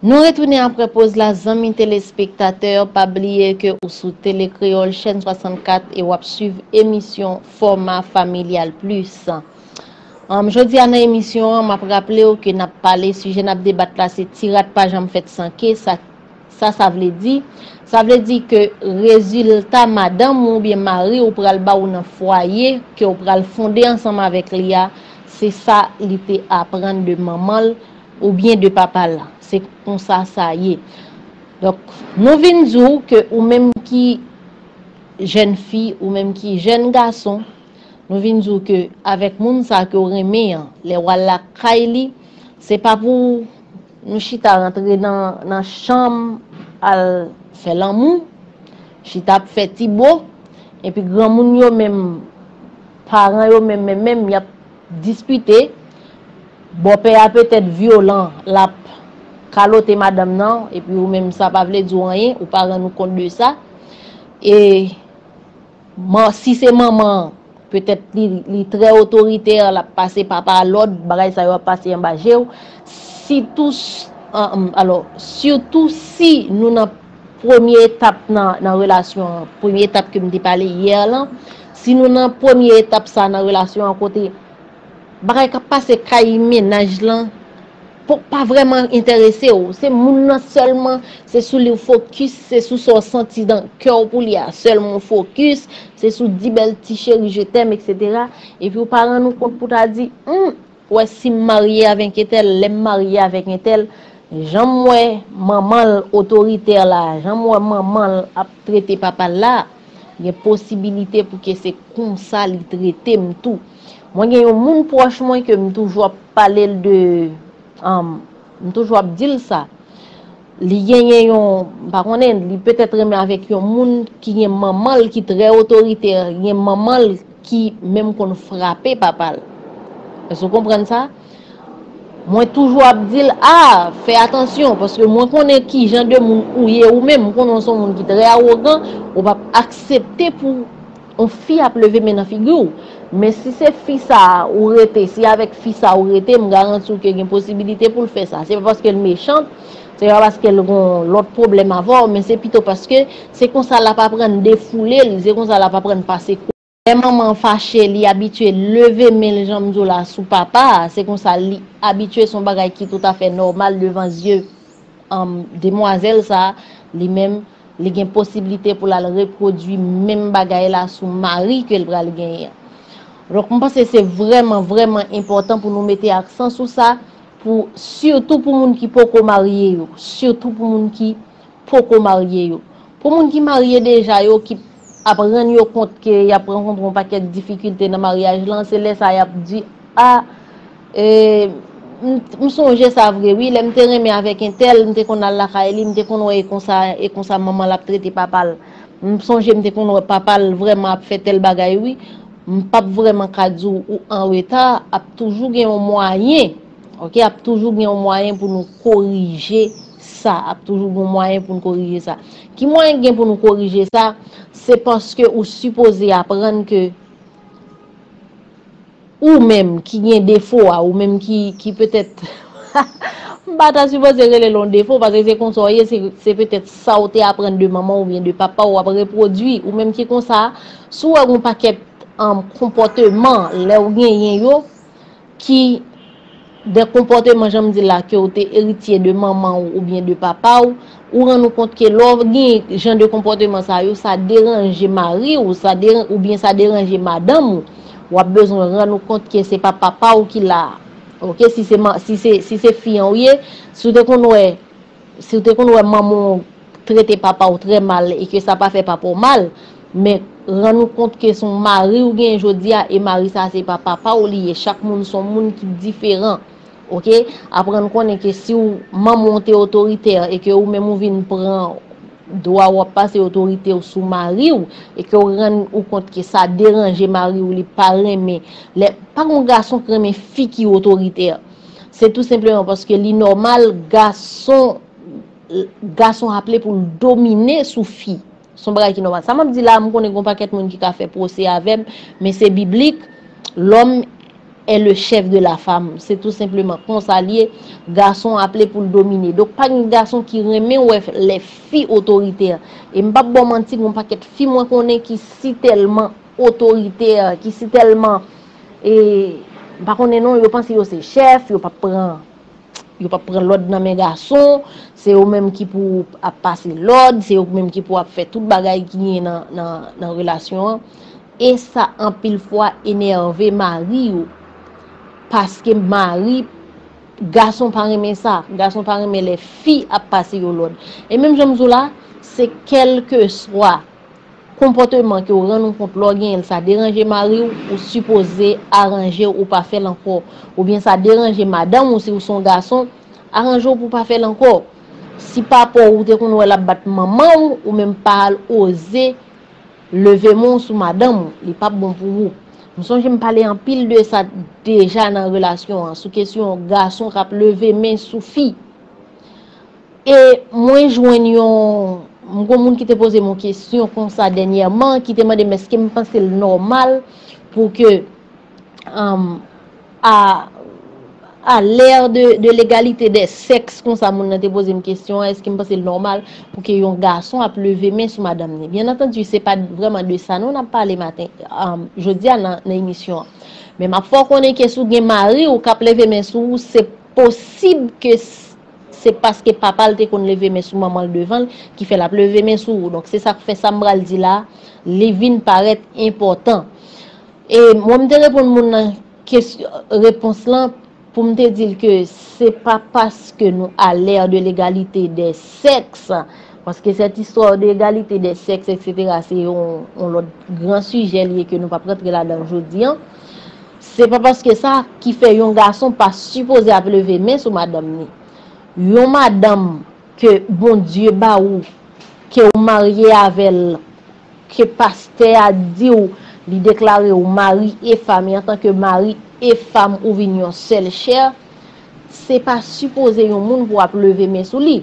Nou retounen aprè poz la zanmi telespektatè, pa bliye ke ou sou Tele Kreyòl chèn 64 e wap swiv emisyon Fòma Familyal Plis. Jodi a nan emisyon an map raplew ke nap pale sijè nap debat la se ti rat pa janm fèt san ke sa. Sa sa vle di? Sa vle di ke rezilta madanm ou oubyen mari ou pral ba ou nan fwaye ke ou pral fonde ansanm avèk li a, se sa li te aprann de manman l oubyen de papa l. Se konsa sa ye. Donk, nou vin di w ke ou menm ki jèn fi, ou menm ki jèn gason, nou vin di w ke avèk moun sa ke w renmen an, lè w al lakay li, se pa pou w. Nou chita rantre nan chanm al fè lanmou, chita ap fè ti bo, epi granmoun yo menm, paran yo menm menm menm y ap dispite, bòpè a petèt vyolan, l ap kalote madanm nan, epi ou menm sa pa vle di w anyen, ou pa rann ou kont de sa, e. Si se manman an, petèt li trè otoritè, lap pase papa a lòd, bagay sa yo ap pase anba je w. Sitou si nou nan premye etap nan relasyon an, premye etap ke m te pale yè lan, si nou nan premye etap sa nan relasyon an kote bagay kap pase kay mennaj lan, Pop pa vreman enterese w, se moun nan selman, se sou li w fokis, se sou sa w santi nan kè w pou li a selman w fokis, se sou di bel ti cheri je t'aime etc. Epi w pa rann ou kont pou ta di, humm, ou wè si m marye avek entèl, lè m marye avek entèl, jan m wè manman l otoritè la, jan m wè manman l ap trete papa l la, gen posibilite pou ke se konsa li trete m tou. Mwen gen yon moun pwòch mwen ke m toujou ap pale l de, m toujou ap di l sa, li genyen yon, m pa konnen, li petèt renmen avèk yon moun ki gen manman l ki trè otoritè, gen manman l ki menm konn frape papa l. Èske w konprann sa? Mwen toujou ap di l, a, fè atansyon, paske mwen konnen ki jan de moun ou ye ou menm, m konnen w se yon moun ki trè awogan, ou p ap aksepte pou. On fi ap leve men nan figi w, men si se fi sa ou rete, si avèk fi sa ou rete, m garanti w ke gen posibilite pou l fè sa. Se pa paske l mechant, se pa paske l gon lòt pwoblèm avè w, men se pito paske se konsa l ap aprann defoule l, se konsa l ap aprann pase kou. Lè manman an fache, li abitye leve men l jan m di w la sou papa a, se konsa li abitye, se yon bagay ki toutafè nòmal devan zye demwazèl sa a, li menm. li gen posibilite pou l al repwodui menm bagay la sou mari ke l pral genyen an. Donk, m panse se vrèman, vrèman enpòtan pou nou mete aksan sou sa, pou sitou pou moun ki poko marye yo, sitou pou moun ki poko marye yo. Pou moun ki marye deja yo ki. ap rann yo kont ke y ap rankontre yon pakèt difikilte nan maryaj lan, se lè sa y ap di, A, ee, m sonje sa vre wi, lè m te renmen avèk entèl, m te konn al lakay li, m te konn wè e konsa, e konsa manman l ap trete papa l. M sonje m te konn wè papa l vrèman ap fè tèl bagay wi. M p ap vrèman ka di w ou anreta, ap toujou gen yon mwayen, ok, ap toujou gen yon mwayen pou nou korije. sa ap toujou gon mwayen poun korije sa ki mwayen ki gen pou nou korije sa se paske ou sipoze aprann ke ou menm ki gen defo a ou menm ki petèt m pa ta sipoze rele l yon defo paske se konsa w ye se petèt sa w te aprann de manman w oubyen de papa w wap repwodui ou menm ki konsa si w wè gon pakèt konpòteman lè w genyen yo. ki de konpòteman jan m di la ke ou te eritye de manman ou oubyen de papa ou, ou rann ou kont ke lè w gen jan de konpòteman sa yo sa deranje mari ou oubyen sa deranje madanm ou, w ap bezwen rann ou kont ke se pa papa ou ki la a ok si se fi an ou ye, si w te konn wè. Si w te konn wè manman w trete papa w trè mal e ke sa pa fè papa w mal, men rann ou kont ke se yon mari w genyen jodi a e mari sa a se pa papa w li ye. Chak moun se yon moun ki diferan. Ok? Aprann konnen ke si w manman w te otoritè e ke ou menm ou vin pran dwa w ap pase otorite w sou mari w e ke w rann ou kont ke sa deranje mari w li pa renmen lè, pa gen yon gason ki renmen fi ki otoritè. Se tou senpleman paske li nòmal gason gason aple pou l domine sou fi. S on bagay ki nòmal. Sa m ap di la a, m konnen gen yon pakèt moun ki ka fè pwose avè m, men se biblik, Lòm è le chèf de la fam. Se tou senpleman konsa l ye. Gason aple pou l domine. Donk pa gen gason ki renmen wè lè fi otoritè. E m p ap ba w manti, gen yon pakèt fi mwen konnen ki sitèlman otoritè, ki sitèlman. E m pa konnen non, yo panse yo se chèf, yo pap pran yo pap pran lòd nan men gason, se yo menm ki pou ap pase lòd, se yo menm ki pou ap fè tout bagay ki gen nan relasyon an. E sa anpil fwa enève mari yo, paske mari, gason pa renmen sa, gason pa renmen lè fi ap pase yo lòd. E menm jan m di w la, se kèlkeswa. Konpòteman ke w rann ou kont lè w genyen l sa deranje mari w, ou sipoze aranje w ou pa fè l ankò. Oubyen sa deranje madanm ou si w se yon gason, aranje w pou w pa fè l ankò. Si papa w ou te konn wè l ap bat manman w, ou menm pa al oze leve men w sou madanm ou, li p ap bon pou ou. M sonje m pale anpil de sa deja nan relasyon an, sou kesyon gason k ap leve men sou fi. E mwen jwenn yon, m gon moun ki te poze m yon kesyon konsa dènyèman, ki te mande m eske m panse l nòmal pou ke a lè de legalite dè sèks konsa moun nan te poze m kesyon an, eske m panse l nòmal pou ke yon gason ap leve men sou madanm ni. Byen antandi se pa vreman de sa nou n ap pale maten, jodi a nan emisyon an. Men m ap fè w konnen ke si w gen mari w k ap leve men sou ou se posib ke Se paske papa l te konn leve men sou manman l devan l ki fè l ap leve men sou ou. Donk se sa k fè sa m pral di la a li vin parèt enpòtan. E mwen m te reponn moun nan kes repons lan pou m te di l ke se pa paske nou a l'ère de l'égalité des sexes paske cette histoire de égalité des sexes etc se yon lòt gran sijè li ye ke nou p ap rantre ladan l jodi an. Se pa paske sa ki fè yon gason pa sipoze ap leve men sou madanm ni. Yon madanm ke Bondye ba ou, ke ou marye avè l, ke pastè a di w, li deklare w mari e fam e antanke mari e fam ou vin yon sèl chè, se pa sipoze yon moun pou ap leve men sou li.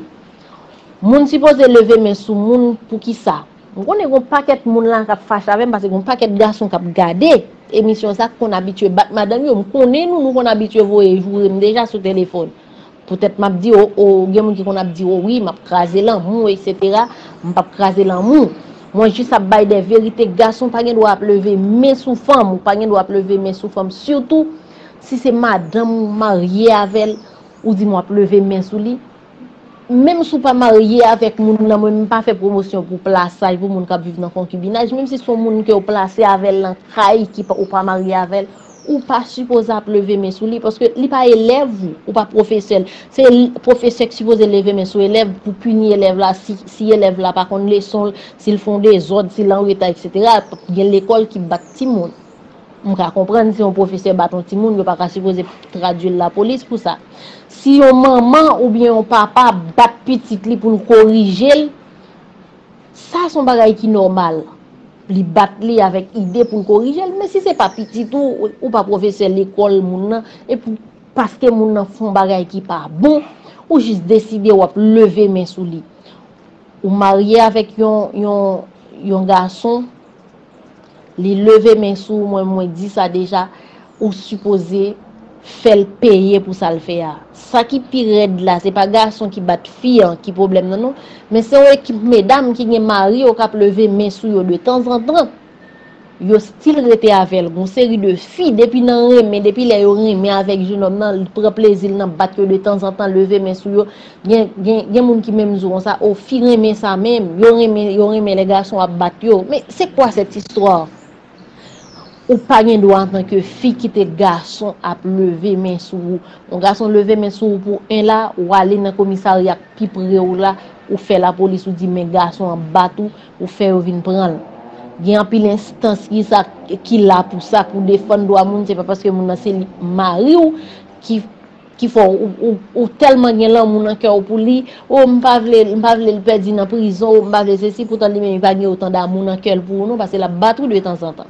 Moun sipoze leve men sou moun poukisa? M konnen gon pakèt moun la kap fache avèm pase gon pakèt gason kap gade emisyon sa k konn abitye bat madanm yo m konnen nou nou konn abitye voye jourem deja sou telefòn poutèt map di o o gen moun ki konn ap di o wi map kraze lanmou etc m pap kraze lanmou mwen jis ap bay de verite gason pa gen dwa ap leve men sou fanm ou pa gen dwa ap leve men sou fanm sitou si se madanm ou marye avèl ou di m wap leve men sou li Menm si w pa marye avèk moun nan, mwen pa fè pwomosyon pou plasaj pou moun k ap viv nan konkibinaj, menm si se yon moun ke w plase avè l nan kay ki pa, ou pa marye avè l, ou pa sipoze ap leve men sou li, paske li pa elèv ou, ou pa pwofesè l. Se pwofesè ki sipoze leve men sou elèv pou pini elèv la si elèv la pa konn leson l, si l fè yon dezòd, si l anreta, eksetera. Gen lekòl ki bat timoun. M ka konprann si yon pwofesè bat yon timoun, yo pa ka sipoze tradui l lapolis pou sa. Si yon manman oubyen yon papa bat pitit li pou l korije l, sa s on bagay ki nòmal. Li bat li avèk ide pou l korije l. Men si se pa pitit ou, ou pa pwofesè lekòl moun nan, epi paske moun nan fè yon bagay ki pa bon, ou jis deside w ap leve men sou li. Ou marye avèk yon gason. Li leve men sou ou mwen mwen di sa deja ou sipoze fèl peye pou sal fè a. Sa ki pi rèd la se pa gason ki bat fi an ki pwoblèm nan non men se yon ekip medam ki gen mari yo kap leve men sou yo de tanzantan yo stil rete avèl gon seri de fi depi nan renmen depi lè yo renmen avèk jenòm nan li pran plezil nan bat yo de tanzantan leve men sou yo Gen moun ki menm di w konsa, o fi renmen sa menm, yo renmen yo renmen lè gason ap bat yo. Men se kwa sèt istwa? Ou pa gen dwa antanke fi kite gason ap leve men sou ou. Yon gason leve men sou ou pou 1 la, ou ale nan komisarya k pi pre w la, ou fè lapolis ou di men gason an bat ou, ou fè yo vin pran l. Gen anpil enstans ki sa ki la pou sa, pou defann dwa moun, se pa paske moun nan se mari w ki. ki fè w ou tèlman gen lanmou nan kè w pou li, oh m pa vle m pa vle l pèdi nan prizon, oh m pa vle sesi, poutan li menm li pa gen otan damou nan kè l pou ou non, pase l ap bat ou de tanzantan.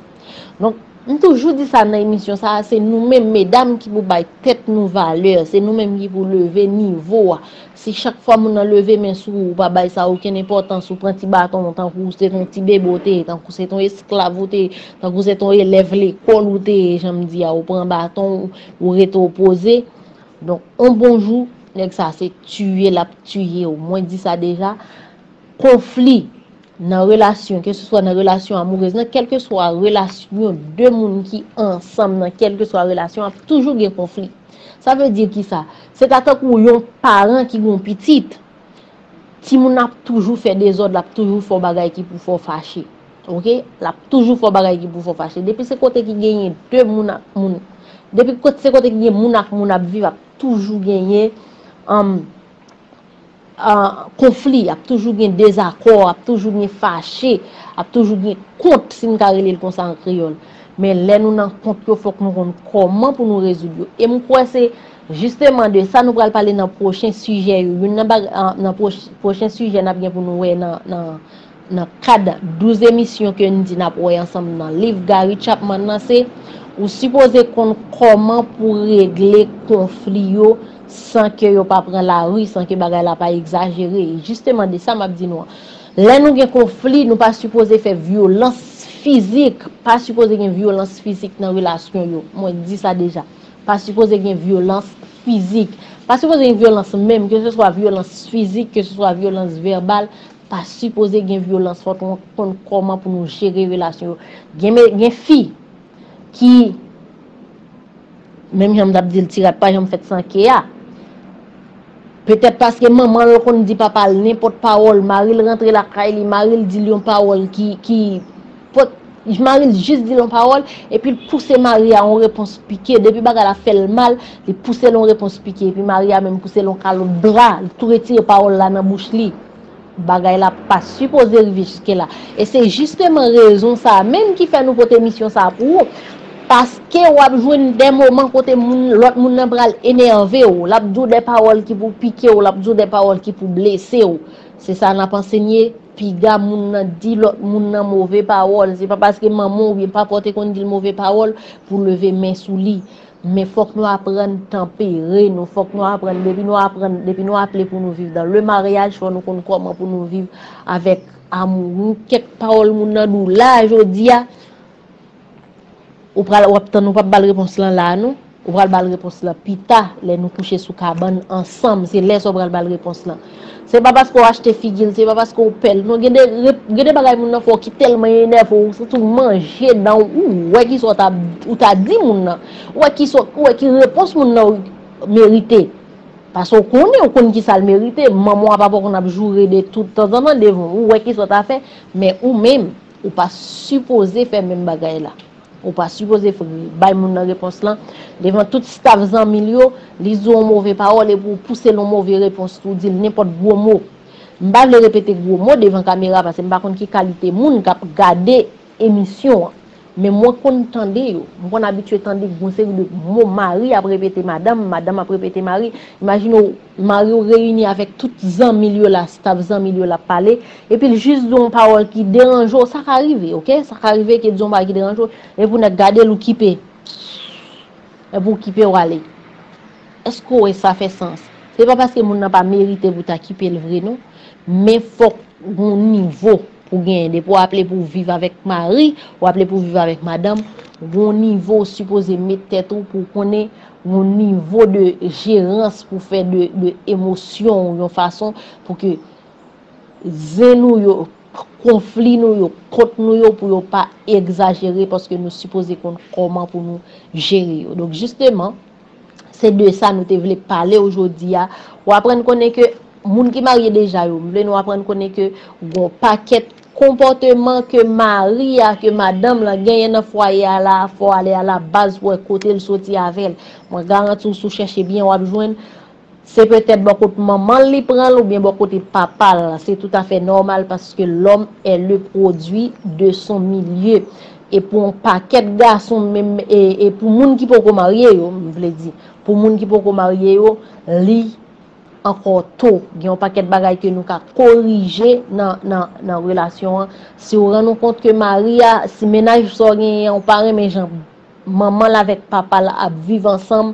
Donk, m toujou di sa nan emisyon sa a, se nou menm medam ki pou bay tèt nou valè, se nou menm ki pou leve nivo a, si chak fwa moun nan leve men sou ou, ou pa bay sa okenn enpòtans, ou pran ti baton w tankou se t on ti bebe w te ye, tankou se t on esklav ou te ye, tankou se t on elèv lekòl ou te ye, jan m di a, ou pran baton w, Ou rete ou poze, donk on bon jou nèg sa se tiye lap tiye w. Mwen di sa deja, konfli nan relasyon, ke se swa nan relasyon amourez, nan kelke swa relasyon de moun ki ansanm nan kelke swa relasyon ap toujou gen konfli. Sa vle di ki sa? Se ta tankou yon paran ki gen yon pitit. Timoun nan ap toujou fè dezòd, l ap toujou fè w bagay ki pou fè w fache. Ok? L ap toujou fè w bagay ki pou fè w fache. Depi se kote ki genyen de moun ak moun, depi se kote ki gen moun ak moun ap viv, ap toujou genyen konfli, ap toujou gen dezakò, ap toujou gen fache, ap toujou gen kont, si m ka rele l konsa an kreyòl. Men lè nou nan kont yo, fòk nou konn kòman pou nou rezoud yo. E m kwè se. Jisteman de sa nou pral pale nan pwochen sijè yo. Youn nan baga, nan pwochen sijè n ap gen pou nou wè nan, nan, nan kad 12 emisyon ke n di n ap wè ansanm nan liv Gary Chapman nan se, ou sipoze konn kòman pou regle konfli yo san ke yo pa pran lari, san ke bagay la pa egzajere. E jisteman de sa m ap di nou an. Lè nou gen konfli, nou pa sipoze fè vyolans fizik, pa sipoze gen vyolans fizik nan relasyon yo. Mwen di sa deja. Pa sipoze gen vyolans fizik. Pa sipoze gen vyolans menm, ke se swa vyolans fizik, ke se swa vyolans vèbal, pa sipoze gen vyolans. Fòk nou konn kòman pou nou jere relasyon yo. Gen fi ki, menm jan m t ap di l, ti rat pa janm fèt san ke a. Petèt paske manman l konn di papa l nenpòt pawòl, mari l rantre lakay li, mari l di l yon pawòl ki, ki, pot, mari l jis di l yon pawòl, epi l pouse mari a yon repons pike, depi bagay la fè l mal, li pouse l yon repons pike, epi mari a menm pouse l yon kalot bra, li tou retire pawòl la nan bouch li. Bagay la pa sipoze rive jiske la. E se jisteman rezon sa a menm ki fè nou pote emisyon sa a pou ou. Paske w ap jwenn dè moman kote moun, lòt moun nan pral enève w. L ap di w dè pawòl ki pou pike w, l ap di w dè pawòl ki pou blese w. Se sa n ap ansenye, piga moun nan di lòt moun nan move pawòl. Se pa paske manman w oubyen papa w te konn di l move pawòl pou w leve men sou li. Men fòk nou aprann tanpere nou, fòk nou aprann depi nou aprann, depi nou aple pou nou viv dan le maryaj fò nou konn kòman pou nou viv avèk amourou, kèk pawòl moun nan dou la jodi a, ou pral wap tann ou pap bal repons lan la non, ou pral bal repons lan pita lè nou kouche sou kabann ansanm se lè sa ou pral bal repons lan. Se pa paske w achte figi l, se pa paske w pè l non gen de bagay moun nan fè w ki tèlman enève w ou santi w manje dan w, ou wè kisa ou ta di moun nan, ou wè ki repons moun nan merite, paske w konnen, ou konn kisa l merite, manman w a papa w konn ap joure de tout tanzantan devan w, ou wè kisa w ta fè, men ou menm, ou pa sipoze fè menm bagay la. Ou pa sipoze bay moun nan repons lan devan tout staf zanmi l yo, li di w yon move pawòl epi w pouse l yon move repons tou, w di l nenpòt gwo mo. M pa vle repete gwo mo devan kamera pase m pa konn ki kalite moun k ap gade emisyon an. Men mwen konn tande yo. M konn abitye tande yon seri de mo mari ap repete madanm, madanm ap repete mari. Imajine w Mariw reyini avèk tout zanmil yo la staff zanmil yo lap pale epil jis di yon pawòl ki deranje w sa ka rive ok sa ka rive ke di yon bagay ki deranje w men pou nèg gadel ou kipe epi w kipe w ale èske w wè sa fè sans se pa paske moun nan pa merite pou ta kipel vre non men fòk gon nivo pou genyen depi w aple pou viv avèk mari w aple pou viv avèk madanm gon nivo w sipoze met tèt ou pou konnen yon nivo de jerans pou fè de emosyon ou yon fason pou ke zen nou yo, konfli nou yo, kont nou yo pou yo pa egzajere paske nou sipoze konn kòman pou nou jere yo. Donk jisteman, se de sa nou te vle pale ou jodi a. Ou aprann konnen ke moun ki marye deja yo, m vle nou aprann konnen ke gon pakèt Konpòteman ke mari a, ke madanm lan genyen nan fwaye a la a fò w ale a la baz pou wè kote l soti avè l. Mwen garanti w si w chèche byen w ap jwenn. Se petèt bò kot manman l li pran l oubyen bò kote papa l. Se toutafè nòmal paske lòm è le pwodui de son milye. E pou on pakèt gason menm e pou moun ki poko marye yo, m vle di, pou moun ki poko marye yo, li ankò to, gen yon pakèt bagay ke nou ka korije nan relasyon an, si ou rann ou kont ke mari a, si mennaj sa ou genyen an ou pa renmen jan manman l avèk papa l ap viv ansanm,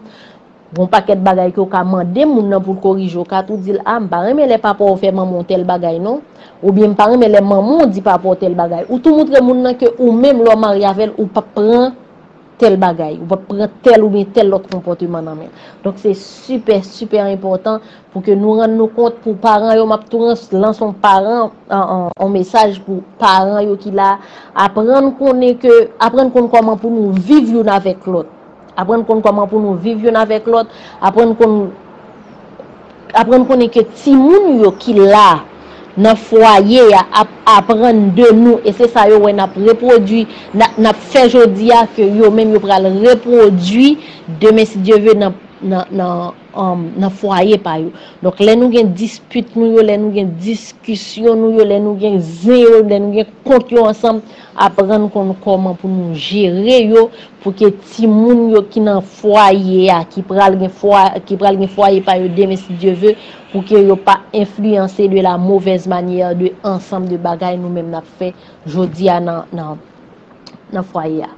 gen yon pakèt bagay ke ou ka mande moun nan pou l korije, ou ka tou di l, a m pa renmen lè papa w fè manman w tèl bagay non, oubyen m pa renmen lè manman w di papa w tèl bagay, ou tou moutre moun nan ke ou menm lè w marye avè l ou p ap pran. tèl bagay, ou pa p pran tèl oubyen tèl lòt konpòteman nan men l. Donk se sipè, sipè enpòtan pou ke nou rann nou kont pou paran yo, m ap tou lanse yon paran, yon mesaj pou paran yo ki la, aprann konnen ke, aprann konn kòman pou nou viv youn avèk lòt, aprann konn kòman pou nou viv youn avèk lòt, aprann konn. Aprann konnen ke timoun ou yo ki la nan fwaye a ap aprann de nou e se sa yo wè n ap repwodui, n ap fè jodi a ke yo menm yo pral repwodui demen si Dye ve nan fwaye pa yo. Donk lè nou gen dispit nou yo, lè nou gen diskisyon nou yo, lè nou gen zen yo, lè nou gen kont yo ansanm, Aprann konn kòman pou nou jere yo pou ke timoun yo ki nan fwaye a, ki pral gen ki pral gen fwaye pa yo demen si Dye ve, pou ke yo pa enfliyanse de la movèz manyè de ansanm de bagay nou menm n'ap fè jodi a nan nan fwaye a.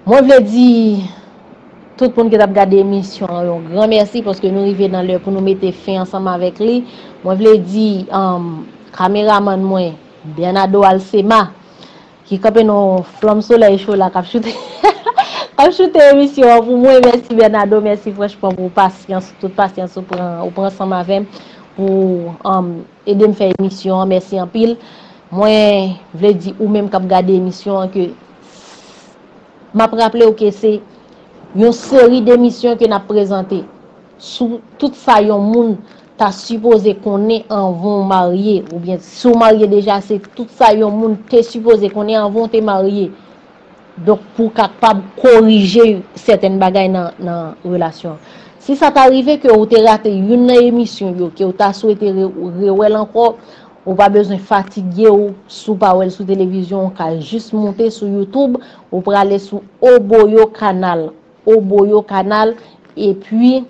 Mwen vle di tout moun ki t'ap gade emisyon an yon gran mèsi paske nou rive nan lè pou nou mete fen ansanm avèk li. Mwen vle di kameramann mwen. Bernado Alcema ki kanpe nan yon flanm solèy cho la kap choute kap choute emisyon an pou mwen mèsi Bernado mèsi franchman pou pasyans tout pasyans ou pran ou pran ansanm avèm pou edem fè emisyon an mèsi anpil mwen vle di ou menm kap gade emisyon an ke map raplew ke se yon seri demisyon ke nap prezante. sou tout sa yon moun ta sipoze konnen anvan w marye, oubyen si w marye deja se tout sa yon moun te sipoze konnen anvan w te marye. Donk pou w kapab korije sèten bagay nan relasyon an. Si sa ta rive ke w te rate youn nan emisyon yo, ke w ta swete rewè l ankò, ou pa bezwen fatige w si w pa wè l sou televizyon, ou ka jis moute sou youtube, ou prale sou Oboyo Canal. ou boyo kanal epi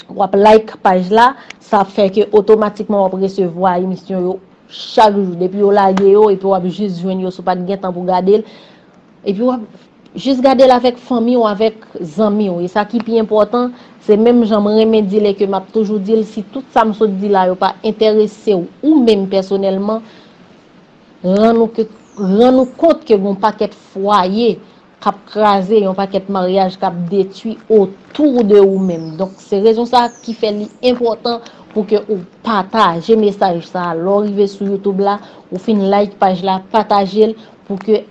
wap like paj la sa ap fè ke otomatikman wap resevwa emisyon yo chak jou depi yo lage yo epi wap jis jwenn yo sou pat gen tan pou gade l epi wap jis gade l avèk fanmi ou avèk zanmi ou e sa ki pi enpòtan se menm jan m renmen di l e ke map toujou di l si tout sa m sot di la yo pa enterese w ou menm pèsonèlman rann ou kont ke gon pakèt fwaye kap kraze yon pakèt maryaj kap detwi otou de ou menm donk se rezon sa ki fè li enpòtan pou ke ou pataje mesaj sa lè ou rive sou youtube la ou fin like paj la patajel pou ke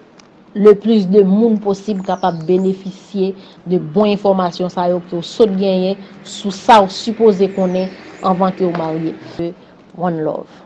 le plis de moun posib kapab benefisye de bon enfòmasyon sa yo ke ou sot genyen sou sa ou sipoze konnen anvan ke ou marye one love.